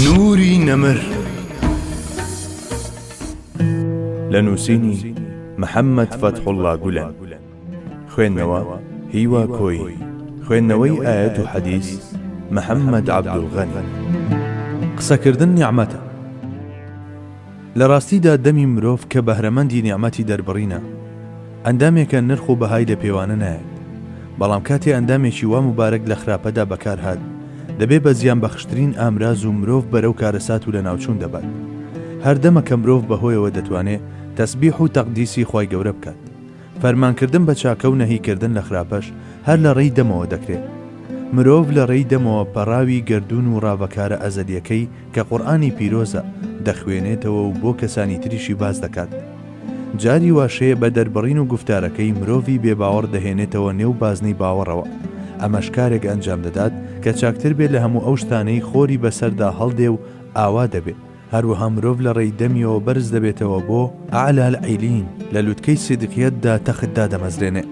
نوری نەمر لە نووسینی محەممەد فەتحوڵا گولەن خوێندنەوە هیوا کۆی خوێندنەوەی ئاەت و حەدیس محەممەد عەبدولغەنی قسەکردن نیعمەتە. لە ڕاستیدا دەمی مرۆڤ کە بەهرەمەندی نیعمەتی دەربڕینە، ئەندامێکە نرخ و بەهای لە پێوانە نایەت، بەڵام کاتێ ئەندامێکی وا موبارەک لە خراپەدا بەکار هات، دەبێ بە زیانبەخشترین ئامراز و مرۆڤ بەرەو کارەسات و لەناوچوون دەبات. هەر دەمە کە مرۆڤ بەهۆیەوە دەتوانێ تەسبیح و تەقدیسی خوای گەورە بکات. فەرمانکردن بە چاکە و نەهیکردن لە خراپەش هەر لە ڕێی دەمەوە دەکرێت. مرۆڤ لە ڕێی دەمەوە پەڕاوی گەردوون و ڕاڤەکارە ئەزەلییەکەی کە قورئانی پیرۆزە، دەخوێنێتەوە و بۆ کەسانی تریشی باس دەکات. جاری واش هەیە بە دەربڕین و گوفتارەکەی مرۆڤی بێباوەڕ دەهێنێتەوە نێو بازنەی باوەڕەوە، ئەمەش کارێک ئەنجام دەدات کە چاکتر بێت لە هەموو ئەو شتانەی خۆری بەسەردا هەڵدێ و ئاوا دەبێ، هەروەها مرۆڤ لە ڕێی دەمیەوە بەرز دەبێتەوە بۆ، اعلی العیلین، لە لوتکەی سیدقیەتدا تەخت دادەمەزرێنێ.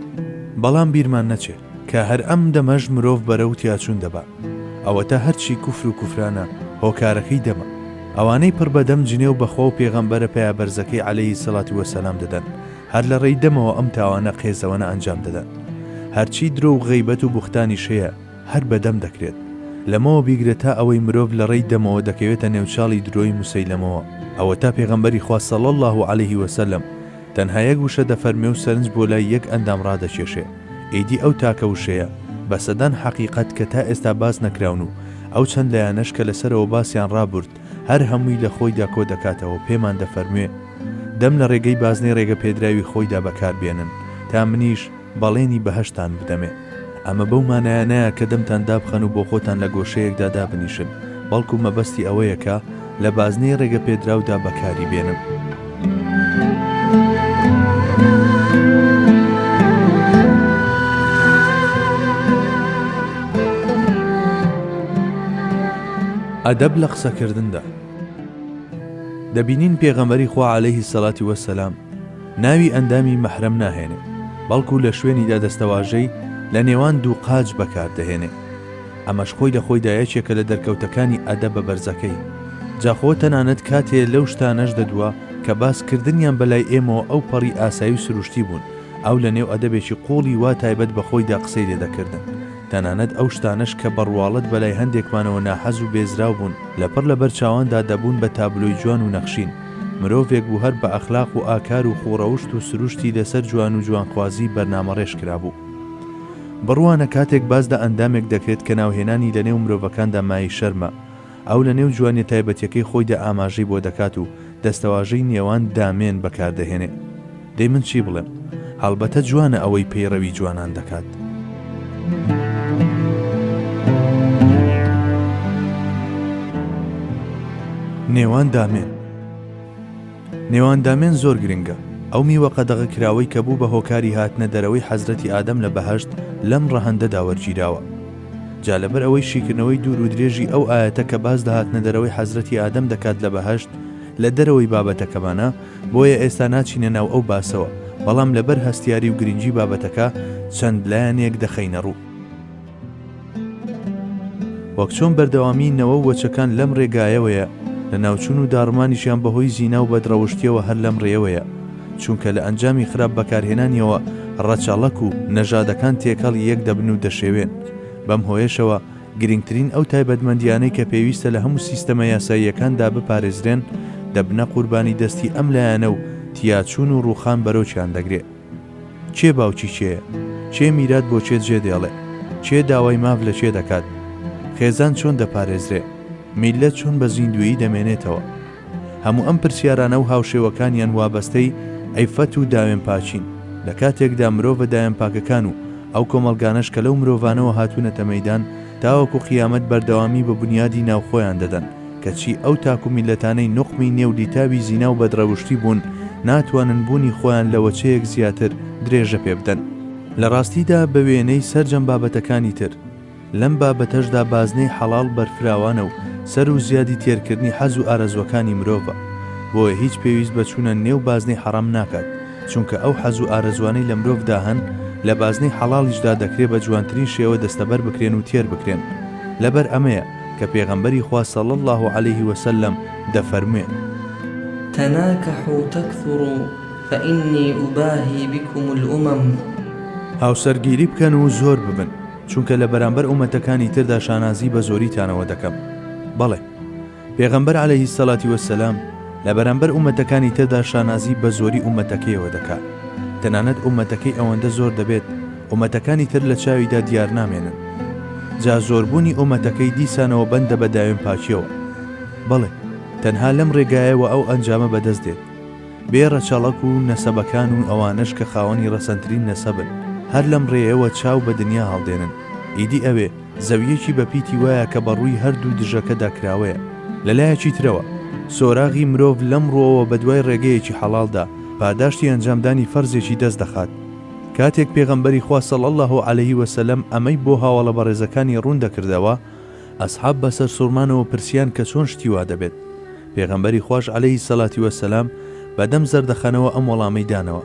بەڵام بیرمان نەچێ کە هەر ئەم دەمەش مرۆڤ بەرەو تیاچوون دەبا. ئەوەتا هەرچی کوفر و کوفرانە هۆکارەکەی دەمە. ئەوانەی پڕ بە دەم جنێو بە خوا و پێغەمبەرە پەیابەرزەکەی علیە الصلوة والسلام دەدەن هەر لە ڕێی دەمەوە ئەم تاوانە قێزەوەنە ئەنجام دەدەن. هەرچی درۆ و غەیبەت و بوختانیش هەیە، هەر بە دەم دەکرێت. لەمەوە بیگرە تا ئەوەی مرۆڤ لە ڕێی دەمەوە دەکەوێتە نێو چاڵی درۆی موسەیلەمەوە، ئەوەتا پێغەمبەری خوا صلی اللە علیه و سلم تەنها یەک وشە دەفەرموێ و سەرنج بۆ لای یەک ئەندام ڕادەکێشێ، ئیدی ئەو تاکە وشەیە بە سەدان حەقیقەت کە تا ئێستا باس نەکراون و ئەو چەند لایەنەش کە لەسەرەوە باسیان ڕابرد هەر هەمووی لە خۆیدا کۆ دەکاتەوەو پێمان دەفەرموێ دەم لە ڕێگەی بازنەی ڕێگەپێدراوی خۆیدا بەکار بێنن تا منیش بەڵێنی بەهەشتتان بدەمێ. ئەمە بەو مانایە نایە کە دەمتان دابخەن و بۆخۆتان لە گۆشەیەکدا دابنیشن، بەڵکو مەبەستی ئەوەیە کە لە بازنەی ڕێگەپێدراودا بەکاری بێنن. ئەدەب لە قسەکردندا. دەبینین پێغەمبەری خوا عەلەیهی سەڵاتی وەسەلام، ناوی ئەندامی مەحرەم ناهێنێ، بەڵکو لە شوێنیدا دەستەواژەی، لە نێوان دوو قاچ، بەکار دەهێنێ. ئەمەش خۆی لە خۆیدا یەکێکە لە دەرکەوتەکانی ئەدەبە بەرزەکەی. جا خۆ تەنانەت کاتێ لەو شتانەش دەدوا کە باس کردنیان بە لای ئێمەوە ئەو پەڕی ئاسایی و سروشتی بوون، ئەو لە نێو ئەدەبێکی قووڵی وا تایبەت بە خۆیدا قسەی لێ دەکردن. تەنانەت ئەو شتانەش کە بە ڕواڵەت بە لای هەندێکمانەوە ناحەز و بێزراو بوون، لەپڕ لە بەر چاواندا دەبوون بە تابلۆی جوان و نەخشین. مرۆڤێک بوو هەر بە ئەخلاق و ئاکار و خووڕەوشت و سرووشتی لەسەر جوان و جوانخوازی بەرنامەڕێژ کرابوو. بڕوانە کاتێک باس لە ئەندامێک دەکرێت کە ناوهێنانی لەنێو مرۆڤەکاندا مایەی شەرمە، ئەو لە نێو جوانیە تایبەتیەکەی خۆیدا ئاماژەی بۆ دەکات و دەستەواژەی نێوان دامێن بەکاردەهێنێ. دەی من چی بڵێم؟ هەڵبەتە جوانە ئەوەی پەیڕەوی جوانان دەکات. نێوان دامێن. نێواندامێن زۆر گرنگە، ئەو میوە قەدەغە کراوەی کە بوو بە هۆکاری هاتنە دەرەوەی حەزرەتی ئادەم لە بەهەشت لەم ڕەهەندەدا وەرگیراوە. جا لەبەر ئەوەی شیکردنەوەی دوور و درێژی ئەو ئایەتە کە باس لە هاتنە دەرەوەی حەزرەتی ئادەم دەکات لە بەهەشت لە دەرەوەی بابەتەکەمانە بۆیە ئێستا ناچینە ناو ئەو باسەوە بەڵام لەبەر هەستیاری و گرنگی بابەتەکە چەند لایەنێک دەخەینە ڕوو. وەک چۆن بەردەوامیی نەوەو وەچەکان لەم رێگایەوەیە، لەناوچوون و داڕمانیشیان بەهۆی زیناو بەدڕەوشتیەوە هەر لەم رێیەوەیە، چونکە لە ئەنجامی خراپ بەکارهێنانیەوە رەچەڵەک و نەژادەکان تێکەڵی یەک دەبن و دەشێوێن، بەم هۆیەشەوە گرنگترین ئەو تایبەتمەندیانەی کە پێویستە لە هەموو سیستەمە یاساییەکاندا بپارێزرێن دەبنە قوربانی دەستی ئەم لایەنەو تیاچوون و رووخان بەرۆکیان دەگرێ. کێ باوکی کێیە؟ کێ میرات بۆ کێ جێ دێڵێ؟ کێ داوای ماف لە کێ دەکات؟ خێزان چۆن دەپارێزرێ؟ میللەت چۆن بە زیندوویی دەمێنێتەوە؟ هەموو ئەم پرسیارانە و هاوشێوەکانیان وابەستەی عیففەت و داوێنپاکین، لە کاتێکدا مرۆڤە داوێنپاکەکان و ئەو کۆمەڵگانەش کە لەو مرۆڤانەوە هاتوونەتە مەیدان تاوەکو قیامەت بەردەوامی بە بونیادی ناو خۆیان دەدەن، کەچی ئەو تاک و میللەتانەی نوقمی نێو لیتاوی زینا و بەدڕەوشتی بوون، ناتوانن بوونی خۆیان لە وەچەیەک زیاتر درێژە پێ بدەن. لە ڕاستیدا بە وێنەی سەرجەم بابەتەکانی تر، لەم بابەتەشدا بازنەی حەڵاڵ بەرفراوانە و سەر و زیادی تێرکردنی حەز و ئارەزووەکانی مرۆڤە. بۆیە هیچ پێویست بە چوونە نێو بازنەی حەڕام ناکات، چونکە ئەو حەز و ئارەزووانەی لە مرۆڤدا هەن، لە بازنەی حەڵاڵیشدا دەکرێ بە جوانترین شێوە دەستەبەر بکرێن و تێر بکرێن. لەبەر ئەمەیە. کە پێغەمبەری خوا صلی اللە علیه و سلم دەفەرموێ. تناکحوا تکثروا فانی اباهی بکم الامم. هاوسەرگیری بکەن و زۆر ببن، چونکە لە بەرامبەر ئومەتەکانی تردا شانازی بە زۆریتانەوە دەکەم. بەڵێ، پێغەمبەر علیه الصلوة والسلام، لە بەرامبەر ئوممەتەکانی تردا شانازی بە زۆری ئوممەتەکەیەوە دەکات، تەنانەت ئوممەتەکەی ئەوەندە زۆر دەبێت ئوممەتەکانی تر لە چاویدا دیارنامێنن. جا زۆربوونی ئوممەتەکەی دیسانەوە بەندە بە داوێن پاکییەوە. بەڵێ، تەنها لەم رێگایەوە ئەو ئەنجامە بەدەست دێت. بێ رەچەڵەک و نەسەبەکان و ئەوانەش کە خاوەنی رەسەنترین نەسەبن، هەر لەم رێیەوە چاو بە دنیا هەڵدێنن، ئیدی ئەوێ، زەوییەکی بە پیتی وایە کە بە ڕووی هەر دوو دژەکەدا کراوەیە. لە لایەکی ترەوە، سۆراغی مرۆڤ لەم ڕووەوە بە دوای ڕێگەیەکی حەڵاڵدا، پاداشتی ئەنجامدانی فەرزێکی دەست دەخات. کاتێک پێغەمبەری خوا صلی اللە علیه و سلم ئەمەی بۆ هاوەڵە بەڕێزەکانی ڕوون دەکردەوە، ئەسحاب بە سەرسوڕمانەوە پرسیان کە چۆن شتی وا دەبێت؟ پێغەمبەری خواش علیه الصلوة و السلام بە دەم زەردەخەنەوە ئەم وەڵامەی دانەوە،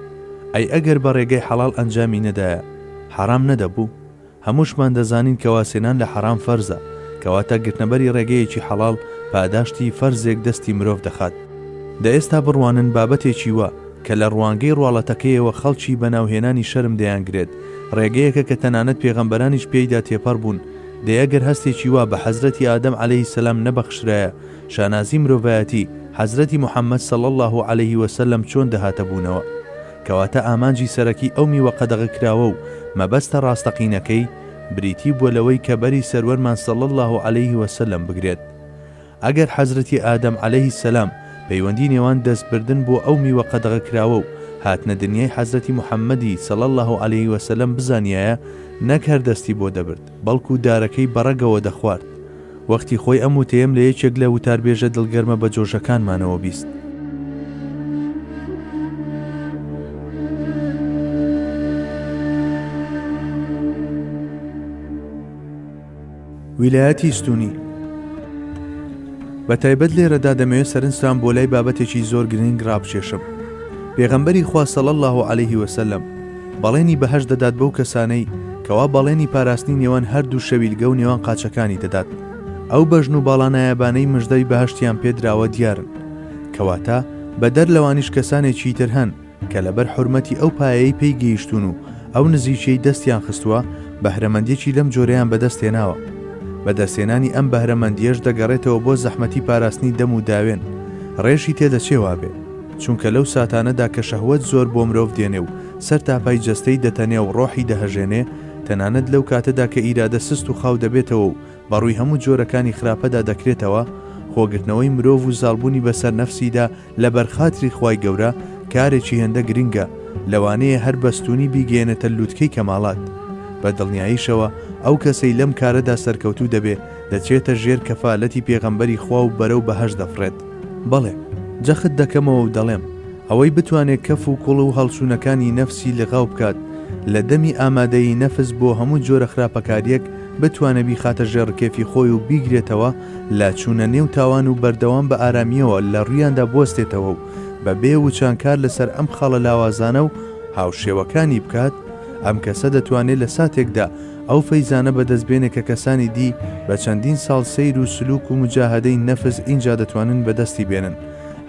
ئەی ئەگەر بە ڕێگەی حەڵاڵ ئەنجامی نەدایە، حەرام نەدەبوو؟ هەمووشمان دەزانین کەوا سێنان لە حەرام فەرزە، کەواتە گرتنەبەری ڕێگەیەکی حەڵاڵ پاداشتی فەرزێک دەستی مرۆڤ دەخات. دە ئێستا بڕوانن بابەتێکی وا کە لە ڕوانگەی ڕواڵەتەکەیەوە خەڵکی بە ناوهێنانی شەرم دەیانگرێت، ڕێگەیەکە کە تەنانەت پێغەمبەرانیش پێیدا تێپەڕ بوون، دەی ئەگەر هەستێکی وا بە حەزرەتی ئادەم عەلەیهی سەلام نەبەخشرایە، شانازی مرۆڤایەتی، حەزرەتی محەمەد صلی اللە علیه و سلم چۆن دەهاتە بوونەوە؟ کەواتە ئامانجی سەرەکی ئەو میوە قەدەغەکراوە و مەبەستە ڕاستەقینەکەی، بریتی بووە لەوەی کە بەری سەروەرمان صلی اللە علیه و سلم بگرێت. ئەگەر حەزرەتی ئادەم علیه السلام پەیوەندی نێوان دەست بردن بۆ ئەو میوە قەدەغەکراوە و هاتنە دنیای حەزرەتی محمدی صلی اللە علیه و سلم بزانیایە نەک هەر دەستی بۆ دەبرد، بەڵکو دارەکەی بەڕەگەوە دەخوارد. وەختی خۆی ئەم وتەیەم لە یەکێک لە وتاربێژە دڵگەرمە بەجۆشەکانمانەوە بیست. ویلایەتی ستونی بە تایبەت لێرەدا دەمەوێت سەرنجتان بۆ لای بابەتێکی زۆر گرنگ ڕابکێشم. پێغەمبەری خوا صلی اللە علیه و سلم، بەڵێنی بەهەشت دەدات بەو کەسانەی کەوا بەڵێنی پاراستنی نێوان هەردوو شەویلگە و نێوان قاچەکانی دەدات. ئەو بەژن و باڵا نایابانەی مژدەی بەهەشتیان پێ دراوە دیارن. کەواتە بەدەر لەوانیش کەسانێکی تر هەن کە لەبەر حورمەتی ئەو پایەیەی پێی گەیشتوون و ئەو نزیکیەی دەستیان خستووە بەهرەمەندیەکی لەم جۆرەیان بەدەست هێناوە. بەدەستهێنانی ئەم بەهرەمەندیەش دەگەڕێتەوە بۆ زەحمەتی پاراستنی دەم و داوێن. ڕێشی تێدەچێ وابێ. چونکە لەو ساتانەدا کە شەهوەت زۆر بۆ مرۆڤ دێنێ و سەر تاپای جەستەی دەتەنێ و ڕۆحی دەهەژێنێ، تەنانەت لەو کاتەدا کە ئیرادە سست و خاو دەبێتەوە و بە ڕووی هەموو جۆرەکانی خراپەدا دەکرێتەوە، خۆگرتنەوەی مرۆڤ و زاڵبوونی بەسەر نەفسیدا لەبەر خاتری خوای گەورە، کارێکی هێندە گرنگە، لەوانەیە هەر بەستوونی بیگەیەنێتە لووتکەی کەمالات. بە دڵنیاییشەوە ئەو کەسەی لەم کارەدا سەرکەوتوو دەبێ، دەچێتە ژێر کەفالەتی پێغەمبەری خوا و بەرەو بەهەشت دەفڕێت. بەڵێ، جەخت دەکەمەوە و دەڵێم، ئەوەی بتوانێ کەف و کوڵ و هەڵچوونەکانی نەفسی لغاو بکات، لە دەمی ئامادەیی نەفس بۆ هەموو جۆرە خراپەکارییەک، بتوانێ بیخاتە ژێڕ کێفی خۆی و بیگرێتەوە لە چوونە نێو تاوان و بەردەوام بە ئارامییەوە لە ڕوویاندا بوەستێتەوە و بە بێ وچان کار لە سەر ئەم خاڵە لاوازانە و هاوشێوەکانی بکات، ئەم کەسە دەتوانێ لە ساتێکدا ئەو فەیزانە بەدەست بێنێ کە کەسانی دی بە چەندین ساڵ سەیر و سلوک و موجاهەدەی نەفس ئینجا دەتوانن بەدەستی بێنن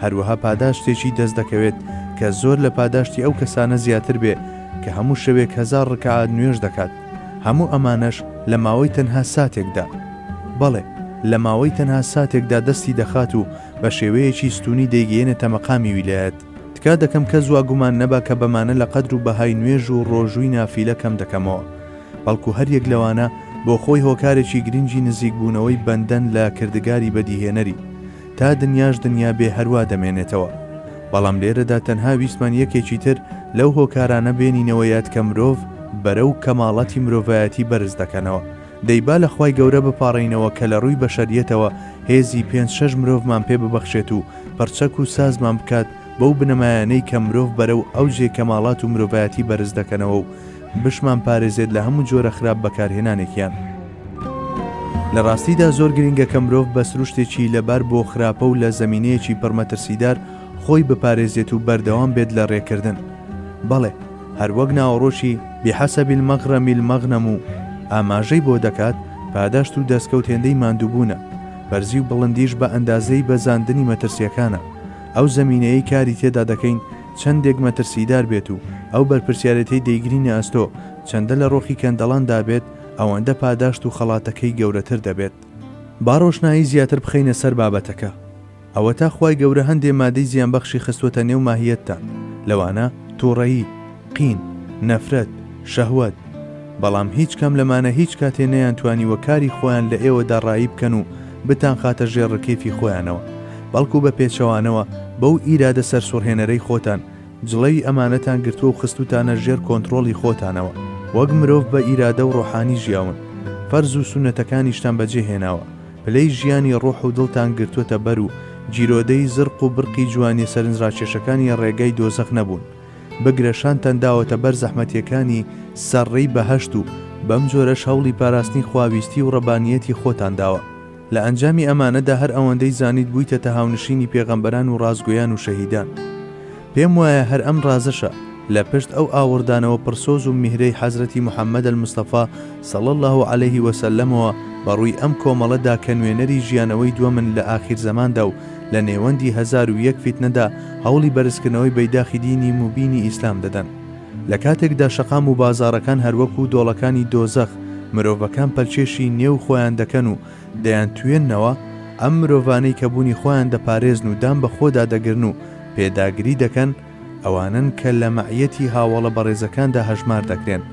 هەروەها پاداشتێکی دەست دەکەوێت کە زۆر لە پاداشتی ئەو کەسانە زیاتر بێ کە هەموو شەوێک هەزار ڕکەعات نوێژ دەکات هەموو ئەمانەش لە ماوەی تەنها ساتێکدا بەڵێ لە ماوەی تەنها ساتێکدا دەستی دەخات و بە شێوەیەکی ستونی دەیگەیەنێتە مەقامی ویلایەت. تکا دەکەم کەس وا گومان نەبا کە بەمانە لە قەدر و بەهای نوێژ و ڕۆژووی نافیلە کەم دەکەمەوە، بەڵکو هەر یەک لەوانە بۆ خۆی هۆکارێکی گرنگی نزیک بوونەوەی بەندەن لە کردگاری بەدیهێنەری، تا دنیاش دنیا بێ هەروا دەمێنێتەوە. بەڵام لێرەدا تەنها ویستمان یەکێکی تر لەو هۆکارانە بێنینەوە یاد کە مرۆڤ بەرەو کەماڵاتی مرۆڤایەتی بەرز دەکەنەوە، دەی با لە خوای گەورە بپاڕێینەوە کە لە ڕووی بەشەریەتەوە هێزی پێنج شەش مرۆڤمان پێ ببەخشێت و پڕچەک و سازمان بکات بەو بنەمایانەی کە مرۆڤ بەرەو ئەوجێ کەماڵات و مرۆڤایەتی بەرز دەکەنەوە و بشمان پارێزێت لە هەموو جۆرە خراپ بەکارهێنانێکیان. لە ڕاستیدا زۆر گرینگە کە مرۆڤ بە سروشتێکی لە بار بۆ خراپە و لە زەمینەیەکی پڕ مەترسیدار خۆی بپارێزێت و بەردەوام بێت لە ڕێکردن بەڵێ، هەر وەک ناوەڕۆکی، بحسب المغرم المغنم، و ئاماژەی بۆ دەکات، پاداشت و دەستکەوت هێندەی ماندووبوونە، بەرزی و بڵندیش بە ئەندازەی بەزاندنی مەترسییەکانە، ئەو زەمینەیەی کاری تێدا دەکەین چەندێک مەترسیدار بێت و ئەو بەرپرسیارێتیەی دەیگرینە ئەستۆ چەندە لە ڕۆخی کەندەڵان دابێت ئەوەندە پاداشت و خەڵاتەکەی گەورەتر دەبێت. با ڕۆشنایی زیاتر بخەینە سەر بابەتەکە. ئەوەتا خوای گەورە هەندێ مادەی زیانبەخشی خستووەتە نێو ماهیەتتان، لەوانە، تووڕەیی، قین، نەفرەت، شەهوەت، بەڵام هیچ کام لەمانە هیچ کاتێ نەیانتوانیوە کاری خۆیان لە ئێوەدا ڕایی بکەن و بتانخاتە ژێر ڕکیفی خۆیانەوە، بەڵکو بە پێچەوانەوە بەو ئیرادە سەرسوڕهێنەرەی خۆتان جڵەوی ئەمانەتان گرتووە و خستووتانە ژێر کۆنتڕۆڵی خۆتانەوە، وەک مرۆڤ بە ئیرادە و ڕۆحانی ژیاون، فەرز و سوننەتەکانیشتان بەجێهێناوە، پلەی ژیانی ڕۆح و دڵتان گرتووەتە بەر و گیرۆدەی زرق و برقی جوانیە سەرنجڕاکێشەکانی ڕێگای دۆزەخ نەبوون، بگرە شانتان داوەتە بەر زەحمەتیەکانی سەر ڕێی بەهەشت و بەم جۆرەش هەوڵی پاراستنی خواویستی و ڕەبانیەتی خۆتان داوە. لە ئەنجامی ئەمانەدا هەر ئەوەندەی زانیت بوویتەتە هاونشینی پێغەمبەران و ڕاستگۆیان و شەهیدان. پێم وایە هەر ئەم ڕازەشە لە پشت ئەو ئاوڕدانەوە پڕ سۆز و میهرەی حەزرەتی محمد المصطفی صلی اللە علیە و سلمەوە بە ڕووی ئەم کۆمەڵە دا کە نوێنەری ژیانەوەی دووەمن لە ئاخیر زەماندا و لە نێوەندی هەزار و یەک فیتنەدا هەوڵی بەرزکردنەوەی بەیداخی دینی موبینی ئیسلام دەدەن. لە کاتێکدا شەقام و بازاڕەکان هەروەکوو دۆڵەکانی دۆزەخ مرۆڤەکان پەلکێشی نێو خۆیان دەکەن و دەیانتوێننەوە ئەم مرۆڤانەی کە بوونی خۆیان دەپارێزن و دان بە خۆدا دەگرن و پێداگری دەکەن ئەوانن کە لە مەعیەتی هاوەڵە بەڕێزەکاندا هەژمار دەکرێن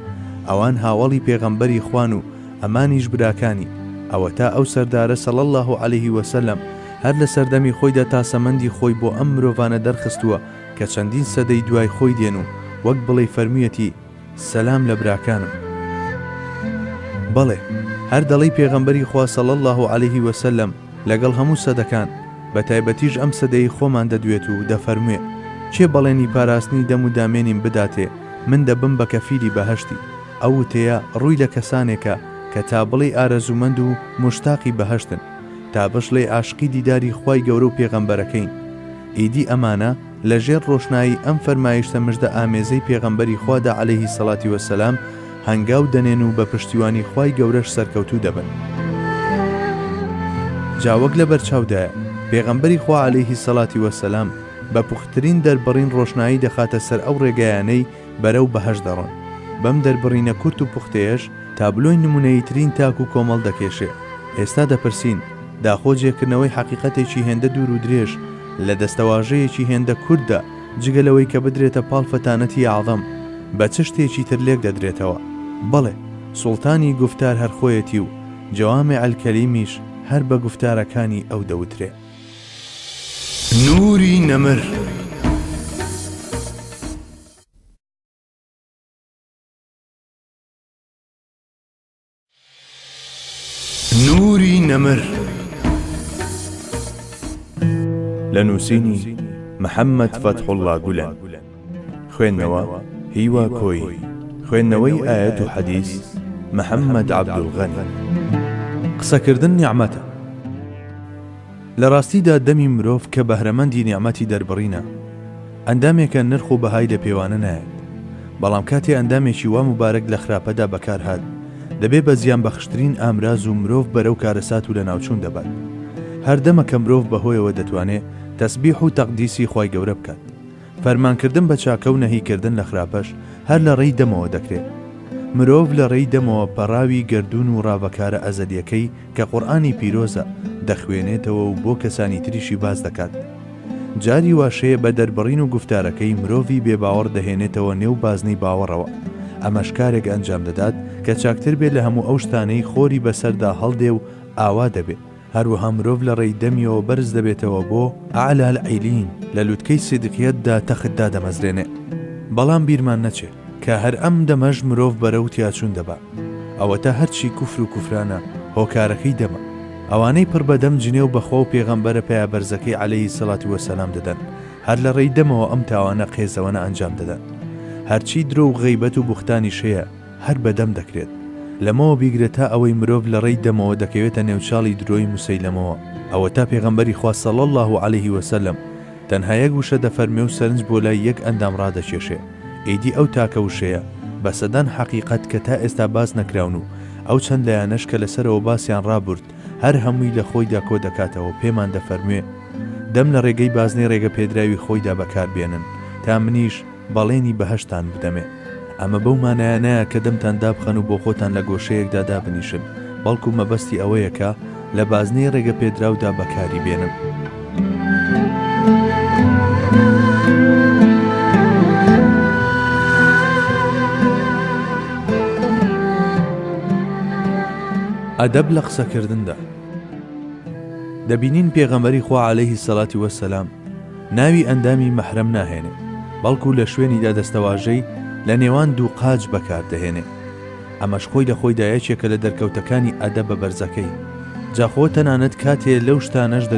ئەوان هاوەڵی پێغەمبەری خوان و ئەمانیش براکانی ئەوەتا ئەو سەردارە صلی اللە علیه وسلم هەر لە سەردەمی خۆیدا تاسەمەندی خۆی بۆ ئەم مرۆڤانە دەرخستووە کە چەندین سەدەی دوای خۆی دێن و وەک بڵێی فەرموویەتی سەلام لە براکانم بەڵێ هەر دەڵێی پێغەمبەری خوا صلی اللە علیه وسلم لەگەڵ هەموو سەدەکان بە تایبەتیش ئەم سەدەی خۆمان دەدوێت و دەفەرموێ کێ بەڵێنی پاراستنی دەم و دامێنیم بداتێ من دەبم بە کەفیلی بەهەشتی ئەو وتەیە ڕووی لە کەسانێکە کە تا بڵێی ئارەزوومەند و موشتاقی بەهەشتن تا بشڵێی عاشقی دیداری خوای گەورە و پێغەمبەرەکەین ئیدی ئەمانە لە ژێر ڕۆشنایی ئەم فەرمایشتە مژدە ئامێزەی پێغەمبەری خوادا عەلەیهی سەڵاتی وە سەلام هەنگاو دەنێن و بە پشتیوانی خوای گەورەش سەرکەوتوو دەبن. جا وەک لە بەرچاودایە پێغەمبەری خوا عەلەیهی سەڵاتی وە سەلام بە پوختترین دەربڕین ڕۆشنایی دەخاتە سەر ئەو ڕێگایانەی بەرەو بەهەشت دەڕۆن. بەم دەربڕینە کورت و پوختەیەش تابلۆی نمونەییترین تاک و کۆمەڵ دەکێشێ. ئێستا دەپرسین، داخۆ جێکردنەوەی حەقیقەتێکی هێندە دوور و درێژ لە دەستەواژەیەکی هێندە کورتدا، جگە لەوەی کە بدرێتە پاڵ فتانەتی اعظم، بە چ شتێکی تر لێک دەدرێتەوە؟ بەڵێ، سوڵتانی گوفتار هەر خۆیەتی و جوامع الکلیمیش هەر بە گوفتارەکانی ئەو دەوترێ. نوری نەمر. لە نووسینی، محمد فتح اللە گولەن. خوێندنەوە، هیوا کۆیی. خوێندنەوەی ئایەت و حەدیس، محەممەد عەبدولغەنی. قسەکردن نیعمەتە. لە ڕاستیدا دەمی مرۆڤ کە بەهرەمەندی نیعمەتی دەربڕینە، ئەندامێکە نرخ و بەهای لە پێوانە نایەت، بەڵام کاتێ ئەندامێکی وا موبارەک لە خراپەدا بەکار هات، دەبێ بە زیانبەخشترین ئامراز و مرۆڤ بەرەو کارەسات و لەناوچوون دەبات. هەر دەمەکە مرۆڤ بەهۆیەوە دەتوانێ تەسبیح و تەقدیسی خوای گەورە بکات. فەرمانکردن بە چاکە و نەهیکردن لە خراپەش هەر لە ڕێی دەمەوە دەکرێت. مرۆڤ لە ڕێی دەمەوە پەڕاوی گەردوون و ڕاڤەکارە ئەزەلییەکەی کە قورئانی پیرۆزە، دەخوێنێتەوە و بۆ کەسانی تریشی باس دەکات. جاری واش هەیە بە دەربڕین و گوفتارەکەی مرۆڤی بێباوەڕ دەهێنێتەوە نێو بازنەی باوەڕەوە. ئەمەش کارێک ئەنجام دەدات کە چاکتر بێ لە هەموو ئەو شتانەی خۆری بەسەردا هەڵدێ و ئاوا دەبێ. هەروەها مرۆڤ لە ڕێی دەمیەوە بەرز دەبێتەوە بۆ، اعلی العیلین، لە لوتکەی سیدقیەتدا تەخت دادەمەزرێنێ. بەڵام بیرمان نەچێ کە هەر ئەم دەمەش مرۆڤ بەرەو تیاچوون دەبا. ئەوەتا هەرچی کوفر و کوفرانە هۆکارەکەی دەمە. ئەوانەی پڕ بە دەم جنێو بە خوا و پێغەمبەرە پایەبەرزەکەی علیە الصلوة و السلام دەدەن، هەر لە ڕێی دەمەوە ئەم تاوانە قێزەوەنە ئەنجام دەدەن. هەرچی درۆ و غەیبەت و بوختانیش هەیە، هەر بە دەم دەکرێت. لەمەوە بیگرە تا ئەوەی مرۆڤ لە ڕێی دەمەوە دەکەوێتە نێو چاڵی درۆی موسەیلەمەوە، ئەوەتا پێغەمبەری خوا صلی اللە علیه و سلم تەنها یەک وشە دەفەرموێ و سەرنج بۆ لای یەک ئەندام ڕادەکێشێ، ئیدی ئەو تاکە وشەیە بە سەدان حەقیقەت کە تا ئێستا باس نەکراون و ئەو چەند لایەنەش کە لەسەرەوە باسیان ڕابورد هەر هەمووی لە خۆیدا کۆ دەکاتەوە پێمان دەفەرموێ دەم لە ڕێگەی بازنەی ڕێگەپێدراوی خۆیدا بەکار بێنن تا منیش بەڵێنی بەهەشتتان بدەمێ. ئەمە بەو مانایە نایە کە دەمتان دابخەن و بۆ خۆتان لە گۆشەیەکدا دابنیشن، بەڵکو مەبەستی ئەوەیە کە لە بازنەی ڕێگەپێدراودا بەکاری بێنن. ئەدەب لە قسەکردندا. دەبینین پێغەمبەری خوا عەلەیهی سەڵاتی وەسەلام، ناوی ئەندامی مەحرەم ناهێنێ، بەڵکو لە شوێنیدا دەستەواژەی، لە نێوان دوو قاچ، بەکار دەهێنێ. ئەمەش خۆی لە خۆیدا یەکێکە لە دەرکەوتەکانی ئەدەبە بەرزەکەی. جاخۆ تەنانەت کاتێ لەو شتانەش دە.